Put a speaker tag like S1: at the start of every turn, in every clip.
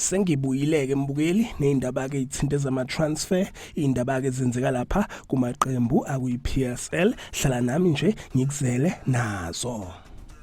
S1: sengibuyileke mbukeli nezindaba ke ithinte zama transfer indaba ke zenzeka lapha kumaqembu akuyi PSL hlala nami nje ngikuzele nazo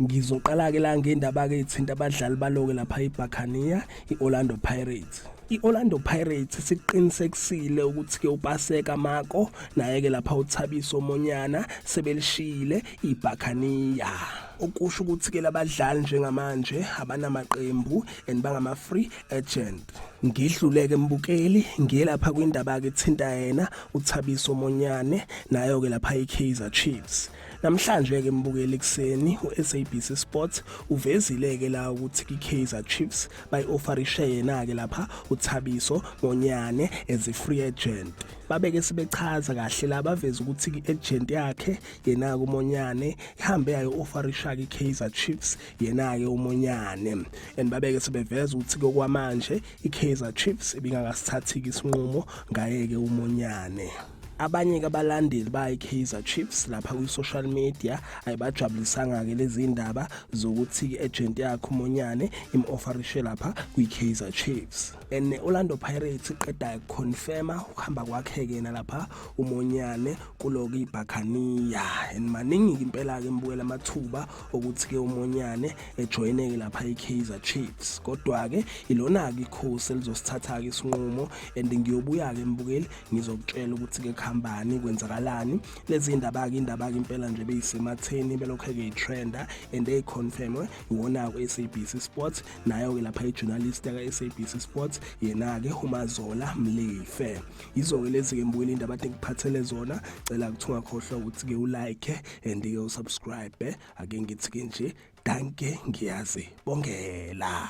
S1: ngizoqala ke la ngendaba ke ithinta abadlali baloke lapha eBaccania iOrlando Pirates I-Orlando Pirates siqinisekisile ukuthi-ke uPaseka Mako naye-ke lapha uThabiso Monyana sebelishiyile iBhakaniya okusho ukuthi-ke labadlali njengamanje abanamaqembu and bangama-free agent ngidluleke mbukeli ngiyelapha kwindaba-ke thinta yena uthabiso monyane nayo-ke lapha i-kaizer chiefs Namhlanje-ke mbukeli ekuseni u-SABC Sports uvezile-ke la ukuthi kwi-Kaizer Chiefs bayi-ofarishe yena-ke lapha uThabiso Ngonyane as a free agent. babeke sibechaza kahle la baveza ukuthi i-agent yakhe yena-ke umonyane ihambe yayo ofarisha-ke i-kaizer chiefs yena-ke umonyane and babeke sebeveza ukuthi kokwamanje i-kaizer chiefs ibingakasithathi-ke isinqumo ngaye-ke umonyane abanye ke abalandeli bayi-kaizer chiefs lapha kwi-social media ayibajabulisanga-ke lezi ndaba zokuthi i-agent yakhe umonyane im-ofarishe lapha kwi-kaizer chiefs and ne-orlando pirates iqeda confirma ukuhamba kwakhe-ke nalapha umonyane kulo-ke ibhakhaniya and maningi-ke impela-ke mbukela amathuba okuthi-ke umonyane ejoyineke lapha i-kaizer chiefs kodwa-ke ilona-ke ikhosi elizosithatha-ke isinqumo and ngiyobuya-ke mbukeli ngizokutshela ukuthi-ke kuhambani kwenzakalani lezi ndaba-ke indaba-ke impela nje beyisematheni belokhu-ke itrenda and eyi-confirmwe iwona-ke u-sabc sports nayo-ke lapha ijournalist yaka-sabc sports yena-ke umazola mlife yizo-ke lezi-ke mbuyela indaba ade ngiphathele zona cela kuthi ungakhohlwa ukuthi-ke ulike and-ke usubscribe ake ngithi-ke nje danke ngiyazi bongela